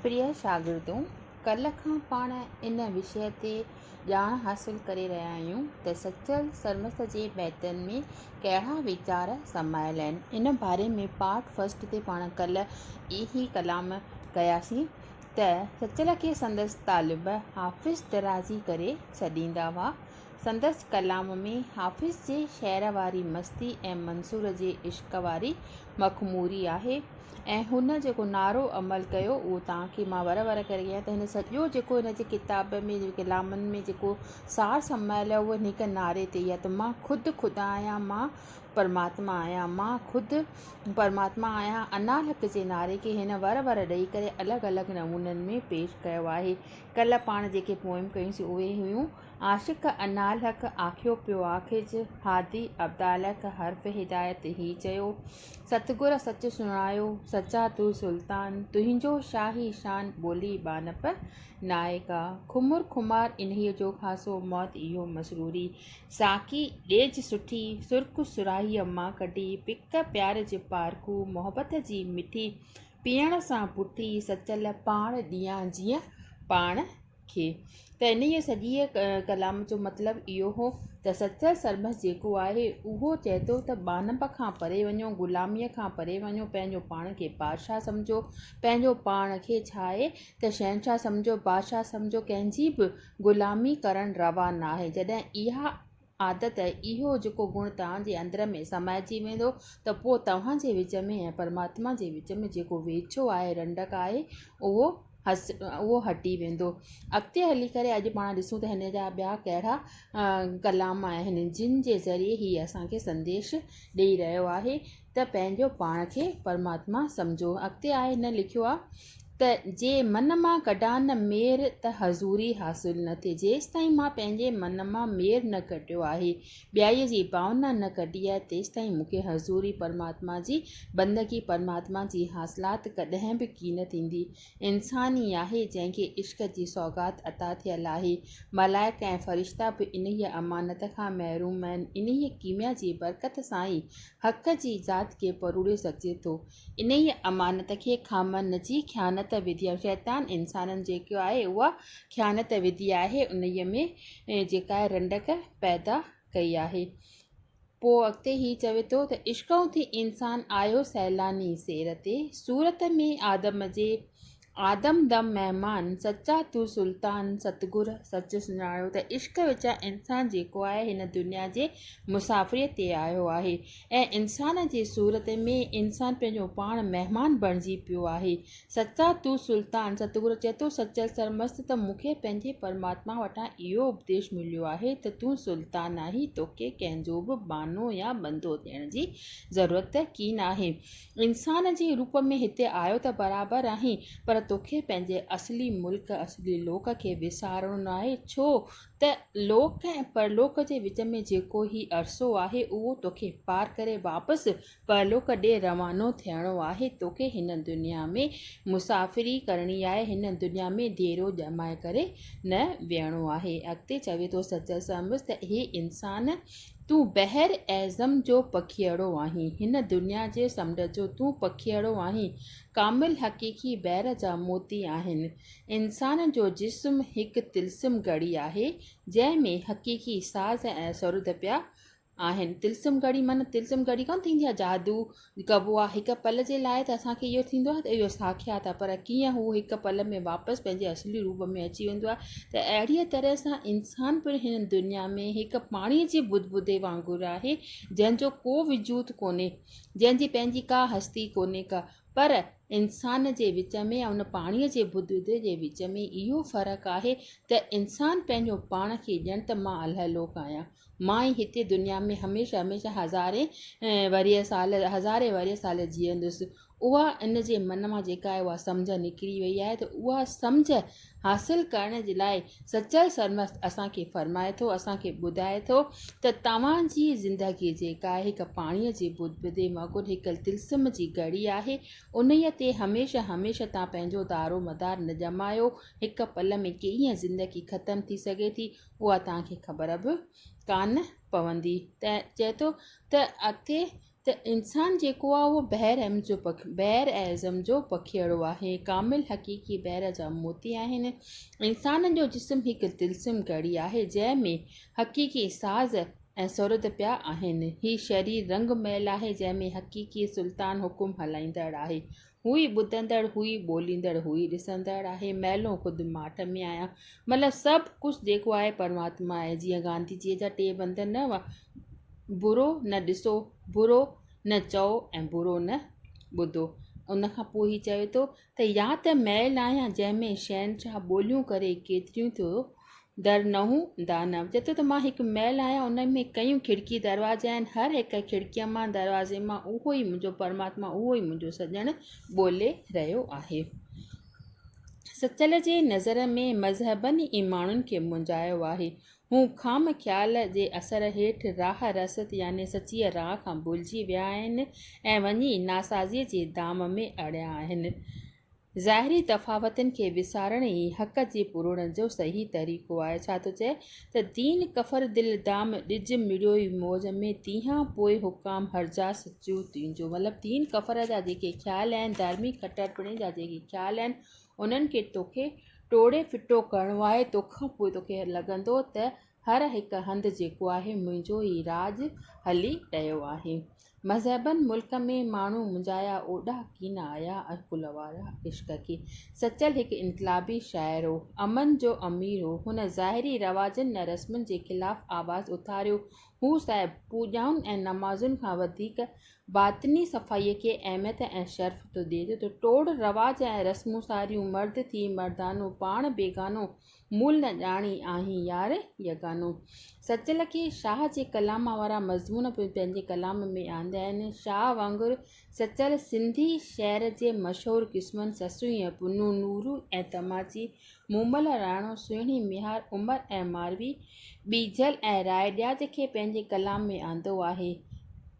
پريا شاگردو! ڪلهه کان پاڻ ان وشيه تي ڄاڻ حاصل ڪري رهيا آهيون ته سچل سرمست جي بيتن ۾ ڪهڙا ويچار سمايل آهن. ان باري ۾ پارٽ فرسٽ تي پاڻ ڪلهه ئي هي ڪلام ڪياسين ته سچل کي سندس طالب حافظ درازي ڪري سڏيندا هئا. سندس ڪلام ۾ حافظ جي شعر واري مستي ۽ منصور جي عشق واري مخموري آهي. ۽ هن جيڪو نعرو عمل ڪيو اهو توهان کي مان ور ور ڪري ڪيان ته هن سڄو جيڪو هن جي ڪتاب ۾ جي ڪلامن ۾ جيڪو سار سمايل آهي اهو هن هڪ نعري تي ئي آهي ته مان خود خدا آهيان مان پرماتما آهيان مان خود پرماتما آهيان انا الحق جي نعري کي هن ور ور ڏئي ڪري الڳ الڳ نمونن ۾ پيش ڪيو آهي ڪلهه پاڻ جيڪي پوئم ڪيون سي اهي هيون عاشق انا الحق آکيو پيو آکج هادي عبدالحق حرف هدايت هي چيو ستگور سچ سڻايو سچا تون سلطان، تنهنجو شاهي شان ٻولي ٻانهپ ناهي ڪا. خمر خمار انهيء جو خاصو موت اهو مسروري، ساقي ڏيج سٺي سرخ سرهائيء مان ڪڍي، پڪ پيار جي پارکو محبت جي مٺي، پيئڻ سان پٺي سچل پاڻ ڏيان جيئن پاڻ. کي ته انهيء سڄيء ڪلام جو مطلب اهو هو ته سچل سرمست جيڪو آهي، اهو چئي ٿو ته ٻانهپ کان پري وڃو، غلاميء کان پري وڃو، پنهنجو پاڻ کي بادشاهه سمجهو، پنهنجو پاڻ کي ڇا آهي ته شهنشاهه سمجهو، بادشاهه سمجهو، ڪنهن جي به غلامي ڪرڻ روا ناهي، جڏهن اها عادت، اهو جيڪو گڻ توهان جي اندر ۾ سمائجي ويندو ته پوء توهان جي وچ ۾ ۽ پرماتما جي وچ ۾ جيڪو ويڇو آهي، رنڊڪ آهي، اهو اهو هٽي ويندو. اڳتي هلي ڪري اڄ پاڻ ڏسون ته هن جا ٻيا ڪهڙا ڪلام آهن، جن جي ذريعي هي اسان کي سنديش ڏيئي رهيو آهي. ته پنهنجو پاڻ کي پرماتما سمجهو. اڳتي آء هن لکيو آهي ته، جي من مان ڪڍان نه مير ته حضوري حاصل نه ٿئي. جيستائين مان پنهنجي من مان مير نه ڪڍيو آهي، ٻيائيء جي ڀاونا نه ڪڍي آهي، تيستائين مون کي حضوري پرماتما جي بندگي، پرماتما جي حاصلات ڪڏهن به ڪين ٿيندي. انسان ئي آهي جنهن کي عشق جي سوغات عطا ٿيل آهي. ملائڪ ۽ فرشتا به انهيء امانت کان محروم آهن. انهيء ڪيميا جي برڪت سان ئي حق جي ذات کي پروڙيو سگهجي ٿو. انهيء امانت کي خامن جي خيانت وڌيا شيطان انسانن جيڪا آهي اها خيانت وڌي آهي انهيء ۾ جيڪا رنڊڪ پيدا ڪئي آهي. پوء اڳتي هي چوي ٿو ته عشق اٿي انسان آيو سيلاني سير تي صورت ۾ آدم جي آدم دم مهمان سچا تون سلطان ستگر سچ سڃاڻيو ته عشق وچان انسان جيڪو آهي هن دنيا جي مسافريء تي آيو آهي ۽ انسان جي صورت ۾ انسان پنهنجو پاڻ مهمان بڻجي پيو آهي سچا تون سلطان، ستگرو چئي ٿو سچل سرمست ته مون کي پنهنجي پرماتما وٽان اهو اپديش مليو آهي ته تون سلطان آهين، توکي ڪنهن جو به بانو يا بندو ٿيڻ جي ضرورت ڪين آهي. انسان جي روپ ۾ هتي آيو ته برابر آهين، پر توکي پنهنجي اصلي ملڪ، اصلي لوڪ کي وسارڻو ناهي، ڇو ته لوڪ ۽ پرلوڪ جي وچ ۾ جيڪو هي عرصو آهي، اهو توکي پار ڪري واپس پرلوڪ ڏي روانو ٿيڻو آهي، توکي هن دنيا ۾ مسافري ڪرڻي آهي، هن دنيا ۾ ديرو ڄمائي ڪري نه ويهڻو آهي. اڳتي چوي ٿو سچل سانبس ته اي انسان! تون بحر اعظم جو پکيئڙو آهين، هن دنيا جي سمنڊ جو تون پکيئڙو آهين، ڪامل حقيقي بحر جا موتي آهن. انسان جو جسم هڪ طلسم گهڙي آهي، جنهن ۾ حقيقي ساز ۽ سرود پيا آهن طلسم گهڙي معنيٰ طلسم گهڙي ڪانه ٿيندي آهي جادو ڪبو آهي هڪ پل جي لاء ته اسان کي اهو ٿيندو آهي ته اهو ساکيات آهي پر ڪيئن هو هڪ پل ۾ واپس پنهنجي اصلي روپ ۾ اچي ويندو آهي ته اهڙيء طرح سان انسان پڻ هن دنيا ۾ هڪ پاڻيء جي بد بدي وانگر آهي جنهن جو ڪو وجود ڪونهي جنهن جي پنهنجي ڪا هستي ڪونهي ڪا پر انسان جي وچ ۾ ۽ ان پاڻيء جي بد بدي جي وچ ۾ اهو فرق آهي ته انسان پنهنجو پاڻ کي ڄڻ ته مان الهه لوڪ آهيان مان ئي هتي دنيا ۾ هميشه هميشه هزارين ورهيه سال هزارين ورهيه سال جيئندس اها ان جي من مان جيڪا اها سمجهه نڪري وئي آهي ته اها سمجهه حاصل ڪرڻ جي لاء سچل سرمست اسانکي فرمائي ٿو اسانکي ٻڌائي ٿو ته توهانجي زندگي جيڪا آهي هڪ پاڻيء جي بد بدي وانگر هڪ تلسم جي گهڙي آهي انهيء تي هميشه هميشه توهان پنهنجو دارو مدار نه ڄمايو هڪ پل ۾ ڪيئن زندگي ختم ٿي سگهي ٿي اها توهان کي خبر به ڪانه پوندي ته چئي ٿو ته اڳتي ته انسان جيڪو آهي اهو بحر احم جو پک بحر اعظم جو پکيئڙو آهي ڪامل حقيقي بحر جا موتي آهن انسان جو جسم هڪ طلسم گهڙي آهي جنهن ۾ حقيقي ساز ۽ سرد پيا آهن هي شرير رنگ محل آهي جنهن ۾ حقيقي سلطان حڪم هلائيندڙ آهي هو ئي ٻڌندڙ، هو ئي ٻوليندڙ، هو ئي ڏسندڙ آهي، مئلون خود ماٺ ۾ آهيان. مطلب سڀ ڪجهه جيڪو آهي پرماتما آهي. جيئن گانڌي جيء جا ٽي بند نه هئا، برو نه ڏسو، برو نه چئو ۽ برو نه ٻڌو. ان کان پوء هي چوي ٿو ته يا ته مئل آهيان جنهن ۾ شهنشاهه ٻوليون ڪري ڪيتريون ٿيو در نهون دانو، چئي ٿو ته مان هڪ محل آهيان، ان ۾ ڪئيون کڙڪي دروازي آهن، هر هڪ کڙڪيء مان، دروازي مان اهو ئي منهنجو پرماتما، اهو ئي منهنجو سڄڻ ٻولي رهيو آهي. سچل جي نظر ۾ مذهبن ئي ماڻهن کي مونجهايو آهي. هو خام خيال جي اثر هيٺ راهه رست يعني سچيء راهه کان ڀلجي ويا آهن ۽ وڃي ناسازيء جي دام ۾ اڙيا آهن. ظاهري تفاوتن کي وسارڻ ئي حق جي پورڻ جو صحيح طريقو آهي. ڇا ٿو چئي ته دين ڪفر دل دام ڏج مڙيوئي موج ۾ تيهان پوء حڪام هرجا سچو تنهنجو مطلب دين ڪفر جا جيڪي خيال آهن ڌارمي کٽرپڻي جا جيڪي خيال آهن انهن کي توکي ٽوڙي ڦٽو ڪرڻو آهي توکان پوء توکي لڳندو ته هر هڪ هنڌ جيڪو آهي منهنجو ئي راڄ هلي رهيو آهي. مذهبن ملڪ ۾ ماڻهو منجايا اوڏا ڪين آيا ۽ ڪل وارا عشق ڪي. سچل هڪ انقلابي شاعر هو. امن جو امير هو. هن ظاهري رواجن ۽ رسمن جي خلاف آواز اٿاريو. هو صاحب پوڄائن ۽ نمازن کان وڌيڪ باطني صفائيء کي اهميت ۽ شرف ٿو ڏي ٿو ته ٽوڙ رواج ۽ رسمون ساريون مرد ٿي مردانو پاڻ بيگانو مول نه ڄاڻي آهين يار يگانو. سچ لکي شاهه جي ڪلام وارا مضمون به پنهنجي ڪلام ۾ آنديا آهن. شاهه وانگر سچل سنڌي شعر جي مشهور قسمن سسئي ۽ پنون، نورو ۽ تماچي، مومل، رائڻو، سهڻي ميهار، عمر ۽ ماروي، ٻيجل ۽ رائي ڏياج کي پنهنجي ڪلام ۾ آندو آهي.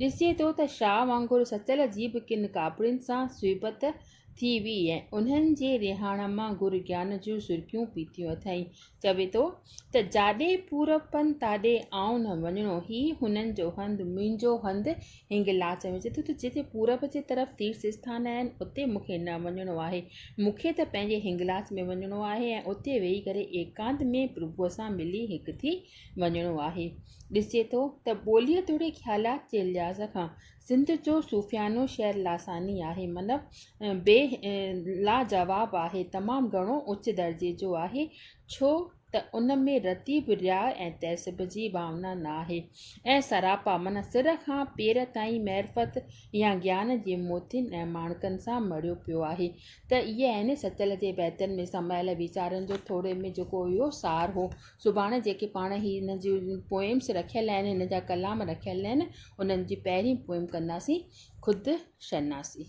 ڏسجي ٿو ته شاهه وانگر سچل جي به ڪن ڪاپڙين سان صحبت ٿي هئي ۽ انهن جي رهاڻ مان گر گيان جون سرڪيون پيتيون اٿائين. چوي ٿو ته جاڏي پورپن تاڏي آئون نه وڃڻو، هي هنن جو هنڌ، منهنجو هنڌ هنگلاج ۾. چوي ٿو ته جتي پورب جي طرف تيرٿ اسٿان آهن، اتي مون کي نه وڃڻو آهي. مون کي ته پنهنجي هنگلاج ۾ وڃڻو آهي ۽ اتي ويهي ڪري ايڪانت ۾ پرڀوء سان ملي هڪ ٿي وڃڻو آهي. ڏسجي ٿو ته ٻوليء توڙي خيالات جي لحاظ کان سنڌ جو صوفيانو شعر لاثاني آهي من بي لاجواب آهي تمام گهڻو اچ درجي جو آهي ڇو ته ان ۾ رتي به رياء ۽ تعصب جي ڀاونا ناهي ۽ سراپا من سر کان پير تائين معرفت يا گيان جي موتين ۽ ماڻڪن سان مڙهيو پيو آهي ته اهي آهن سچل جي بيتن ۾ سمايل ويچارن جو ٿوري ۾ جيڪو اهو سار هو سڀاڻي جيڪي پاڻ هي هن جي پوئمس رکيل آهن هن جا ڪلام رکيل آهن انهن جي پهرين پوئم ڪنداسين خود شناسي.